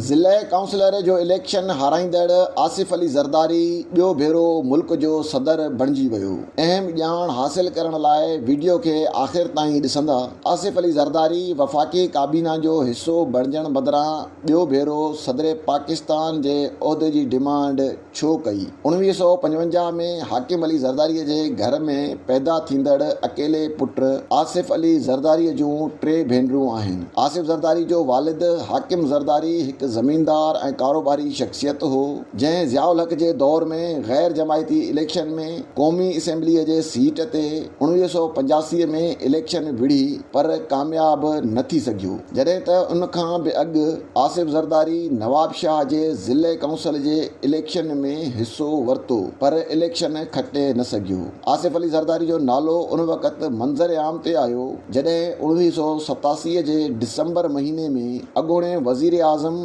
ضلعي ڪائونسلر جو اليڪشن هارائيندڙ آصف علي زرداري ٻيو ڀيرو ملڪ جو صدر بڻجي ويو، اهم ڄاڻ حاصل ڪرڻ لاء ويڊيو کي آخر تائين ڏسندا، آصف علي زرداري وفاقي ڪابينا جو حصو بڻجڻ بدران ٻيو ڀيرو صدر پاڪستان جي عهدي جي ڊمانڊ ڇو ڪئي؟ اوڻويهه سؤ پنجونجاهه ۾ حاڪم علي زرداريء جي گهر ۾ پيدا ٿيندڙ اڪيلي پٽ آصف علي زرداريء جون ٽي ڀينرون آهن. آصف زرداري جو والد حاڪم زرداري هڪ زميندار ۽ ڪاروباري شخصيت هو، جنهن ضياء الحق جي دور ۾ غير جماعتي اليڪشن ۾ قومي اسيمبليء جي سيٽ تي اوڻويهه سؤ پنجاسي ۾ اليڪشن وڙهي پر ڪامياب نه ٿي سگهيو، جڏهن ته ان کان به اڳ آصف زرداري نوابشاهه جي ضلعي ڪائونسل جي اليڪشن ۾ حصو ورتو پر اليڪشن کٽي نه سگهيو. آصف علي زرداري جو نالو ان وقت منظر عام تي آيو جڏهن اڻويهه سؤ ستاسي جي ڊسمبر مهيني ۾ اڳوڻي وزيراعظم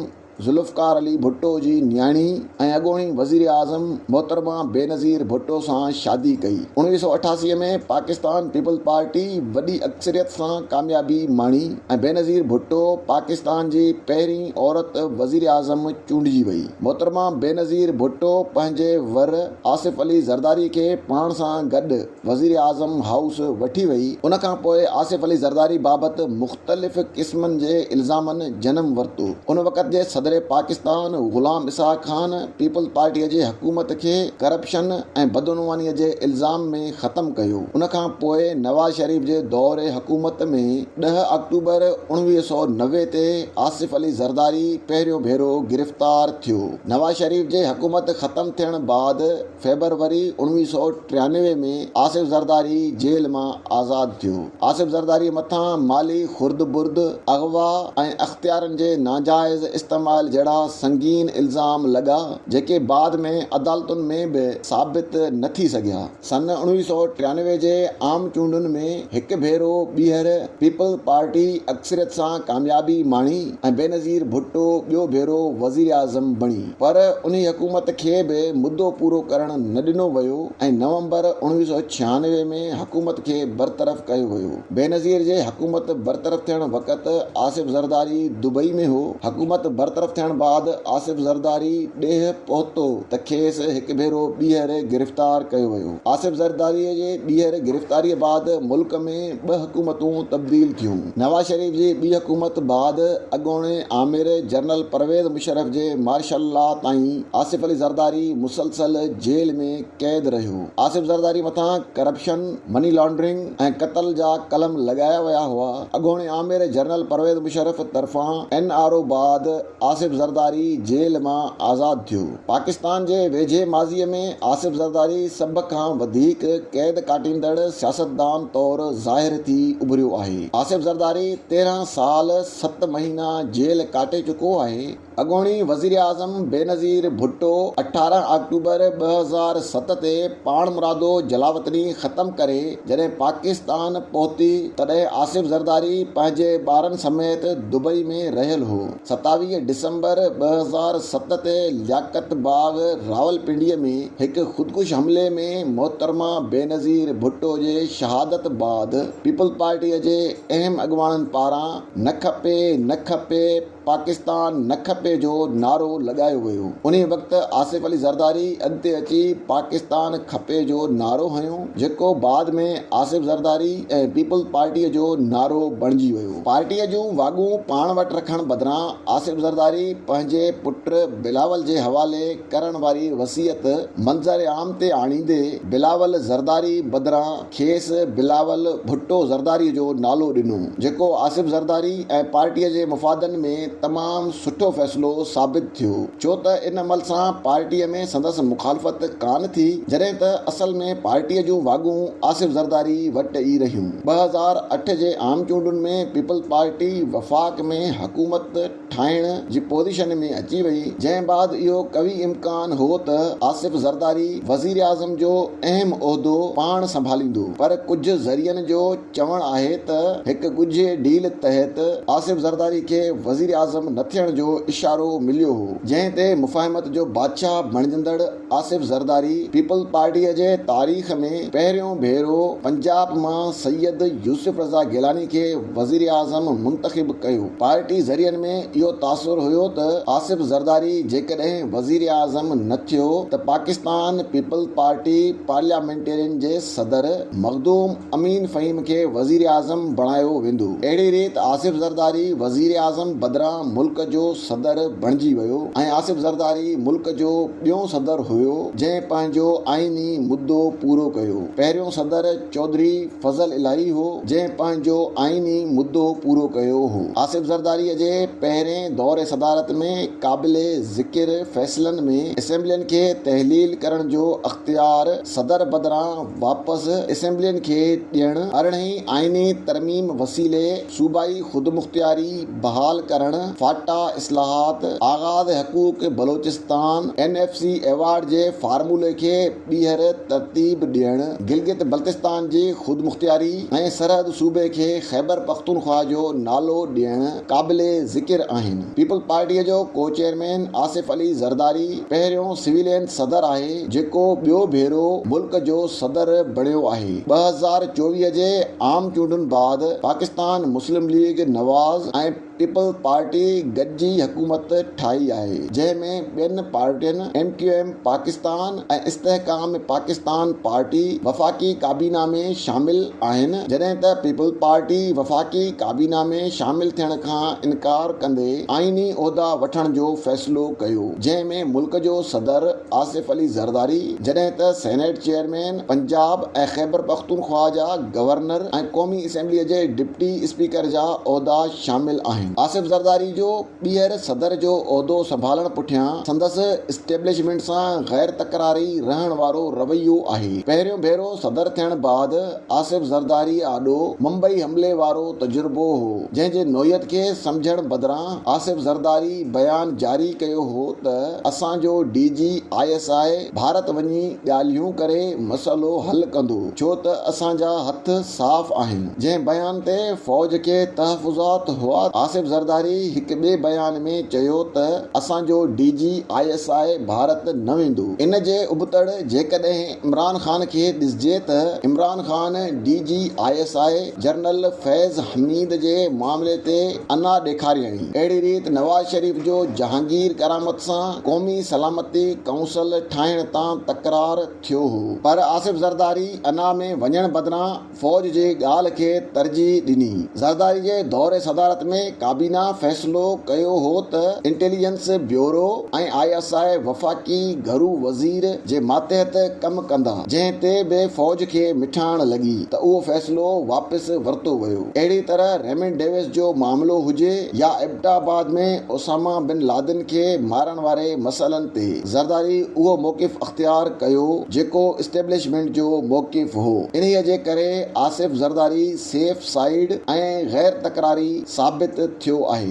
ذوالفقار علي ڀٽو جي نياڻي، ۽ اڳوڻي وزيراعظم محترمه بينظير ڀٽو سان شادي ڪئي. اڻويهه سؤ اٺاسي ۾ پاڪستان پيپلز پارٽي وڏي اڪثريت سان ڪاميابي ماڻي ۽ بينظير ڀٽو پاڪستان جي پهرين عورت وزيراعظم چونڊجي وئي. محترمه بينظير ڀٽو پنهنجي ور آصف علي زرداري کي پاڻ سان گڏ. وزيراعظم هائوس وٺي وئي، ان کان پوء آصف علي زرداري بابت مختلف قسمن جي الزامن جنم ورتو، ان وقت جي صدر پاڪستان غلام اسحاق خان پيپلز پارٽيء جي حڪومت کي ڪرپشن ۽ بدعنوانيء جي الزام ۾ ختم ڪيو، ان کان پوء نواز شريف جي دور حڪومت ۾ ڏهه آڪٽوبر اوڻويهه سؤ نوي تي آصف علي زرداري پهريون ڀيرو گرفتار ٿيو، نواز شريف جي حڪومت ختم ٿيڻ بعد. فيبروري اوڻويهه سؤ ٽيانوي ۾ آصف زرداري جيل مان آزاد ٿيو. آصف زرداري مٿان مالي خردبرد، اغوا ۽ اختيارن جي ناجائز استعمال جهڙا سنگين الزام لڳا، جيڪي بعد ۾ عدالتن ۾ به ثابت نه ٿي سگهيا. سن اوڻويهه سؤ ٽيانوي جي عام چونڊن ۾ هڪ ڀيرو ٻيهر پيپلز پارٽي اڪثريت سان ڪاميابي ماڻي ۽ بينظير ڀٽو ٻيو ڀيرو وزيراعظم بڻي. پر انهي حڪومت کي به مدو پورو ڪرڻ نه ڏنو ويو ۽ نومبر اوڻويهه سؤ ڇيانوي ۾ حڪومت کي برطرف ڪيو ويو. بينظير جي حڪومت برطرف ٿيڻ وقت آصف زرداري دبئي ۾ هو. حڪومت برطرف ٿيڻ بعد آصف زرداري ڏيهه پهتو ته کيس هڪ ڀيرو ٻيهر گرفتار ڪيو ويو. آصف زرداري جي ٻيهر گرفتاري بعد ملڪ ۾ ٻه حڪومتون تبديل ٿيون. نواز شريف جي ٻي حڪومت بعد اڳوڻي آمر جنرل پرويز مشرف جي مارشل لا تائين آصف علي زرداري مسلسل جيل ۾ قيد رهيو. آصف زرداري مٿان ڪرپشن، مني لانڊرنگ ۽ قتل جا قلم لڳايا ويا هئا. اڳوڻي آمر جنرل پرويز مشرف طرفان اين آر او بعد آصف زرداري جيل مان آزاد ٿيو. پاڪستان جي ويجهي ماضي ۾ آصف زرداري سڀ کان وڌيڪ قيد ڪاٽيندڙ سياستدان طور ظاهر ٿي اڀريو آهي. آصف زرداري تيرهن سال ست مهينا جيل ڪاٽي چڪو آهي. اڳوڻي وزيراعظم بينظير ڀٽو اٺارهن آڪٽوبر ٻه هزار ست تي پاڻمرادو جلاوطني ختم ڪري جڏهن پاڪستان پهتي تڏهن آصف زرداري پنهنجي ٻارن سميت دبئي ۾ رهيل هو. ستاويهه ڊسمبر ٻه هزار ست تي لياقت باغ راولپنڊي ۾ هڪ خودڪش حملي ۾ محترمه بينظير ڀٽو جي شهادت بعد پيپلزپارٽي جي اهم اڳواڻن پاران نه کپي نه کپي پاڪستان نه کپي جو نعرو لڳايو ويو انهي وقت آصف علي زرداري اڳتي اچي پاڪستان کپي جو نعرو هنيو جيڪو بعد ۾ آصف زرداري ۽ پيپلز پارٽيء جو نعرو بڻجي ويو. پارٽيء جون واڳون پاڻ وٽ رکڻ بدران آصف زرداري پنهنجي پٽ بلاول جي حوالي ڪرڻ واري وصيت منظر عام تي آڻيندي بلاول زرداري بدران کيس بلاول ڀٽو زرداري جو نالو ڏنو جيڪو آصف زرداري ۽ پارٽيء جي مفادن ۾ تمام سٺو فيصلو ثابت ٿيو ڇو ته ان عمل سان پارٽيء ۾ سندس مخالفت ڪانه ٿي جڏهن ته اصل ۾ پارٽيء جون واڳون آصف زرداري وٽ ئي رهيون. ٻه هزار اٺ جي عام چونڊن ۾ پيپلز پارٽي وفاق ۾ حڪومت ٺاهڻ جي پوزيشن ۾ اچي وئي جنهن بعد اهو قوي امڪان هو ته آصف زرداري وزيراعظم جو اهم عهدو پاڻ سنڀاليندو پر ڪجهه ذريعن جو چوڻ آهي ته هڪ ڳجهي ڊيل تحت آصف زرداري کي وزيراعظم نه ٿيڻ جو اشارو مليو هو جنهن تي مفاهمت جو بادشاهه بڻجندڙ آصف زرداري پيپلز پارٽيء جي تاريخ ۾ پهريون ڀيرو پنجاب مان سيد يوسف رضا گيلاني کي وزيراعظم منتخب ڪيو پارٽي ذريعن ۾ اهو تاثر هيو ته آصف زرداري جيڪڏهن وزيراعظم نه ٿيو ته پاڪستان پيپلز پارٽي پارليامينٽرين جي صدر مخدوم امين فهيم کي وزيراعظم بڻايو ويندو. اهڙي ريت آصف زرداري وزيراعظم بدران ملڪ جو صدر بڻجي ويو ۽ آصف زرداري ملڪ جو ٻيون صدر هيو جنهن پنهنجو آئيني مدو پورو ڪيو. پهريون صدر چوڌري فضل الاهي هو جنهن پنهنجو آئيني مدو پورو ڪيو هو. آصف زرداري جي پهرين دور صدارت ۾ قابل ذڪر فيصلن ۾ اسيمبلين کي تحليل ڪرڻ جو اختيار، صدر بدران واپس اسيمبلين کي ڏيڻ، ارڙهين آئيني ترميم وسيلي صوبائي خودمختياري بحال ڪرڻ، فاٽا اصلاحات، آغاز حقوق Balochistan, N F C award جي فارمولي کي ٻيهر ترتيب ڏيڻ، گلگت بلتستان جي خودمختياري ۽ سرحد صوبي کي خيبرپختونخواهه جو نالو ڏيڻ، قابل ذڪر آهن. پيپلز پارٽيء جو ڪو چيئرمين آصف علي زرداري پهريون سويلين صدر آهي جيڪو ٻيو ڀيرو ملڪ جو صدر بڻيو آهي. ٻه هزار چوويهه جي عام چونڊن بعد Pakistan Muslim league Nawaz ۽ peoples party گڏجي حڪومت ٺاهي آهي جنهن ۾ ٻين پارٽين ايم ڪيو ايم پاڪستان، ۽ استحڪام پاڪستان پارٽي وفاقي ڪابينا ۾ شامل آهن جڏهن ته پيپلز پارٽي وفاقي ڪابينا ۾ شامل ٿيڻ کان انڪار ڪندي آئيني عهدا وٺڻ جو فيصلو ڪيو جنهن ۾ ملڪ جو صدر آصف علي زرداري جڏهن ته سينيٽ چيئرمين پنجاب ۽ خيبرپختونخواهه جا گورنر ۽ قومي اسيمبلي جي ڊپٽي اسپيڪر جا عهدا شامل آهن آصف زرداري جو ٻيهر صدر جو عهدو سنڀالڻ پٺيان سندس اسٽيبلشمينٽ سان غير تڪراري رهڻ وارو رويو آهي. پهريون ڀيرو صدر ٿيڻ بعد آصف زرداري آڏو ممبئي حملي وارو تجربو هو، جنهن جي نوعيت کي سمجهڻ بدران آصف زرداري بيان جاري ڪيو هو ته اسان جو D G I S I Bharat وڃي ڳالهيون ڪري مسئلو حل ڪندو، ڇو ته اسان جا هٿ صاف آهن. جنهن بيان تي فوج کي تحفظات هئا، آصف زرداري هڪ ٻئي بيان ۾ چيو ته اسان جو D G I S I Bharat نه ويندو، ان جي ابتڙ جيڪڏهن عمران خان کي ڏسجي ته Imran Khan D G I S I general Faiz Hameed جي معاملي تي انا ڏيکاريائين، اهڙي ريت نواز شريف جو جهانگير ڪرامت سان قومي سلامتي ڪائونسل ٺاهڻ تان تڪرار ٿيو هو پر آصف زرداري انا ۾ وڃڻ بدران فوج جي ڳالهه کي ترجيح ڏني. زرداري جي دور صدارت ۾ ڪابينا فيصلو ڪيو هو ته intelligence bureau ۽ I S I وفاقي گهرو وزير جي ماتحت ڪم ڪندا، جنهن تي به فوج کي مٺاڻ لڳي ته اهو فيصلو واپس ورتو ويو. اهڙي طرح ريمنڊ ڊيوس جو معاملو هجي يا ايبٽا آباد ۾ اسامه بن لادن کي مارڻ واري مسئلن تي، زرداري اهو موقف اختيار ڪيو جيڪو اسٽيبلشمينٽ جو موقف هو. انهيء جي ڪري آصف زرداري سيف سائيڊ ۽ غير تڪراري ثابت ٿيو آهي.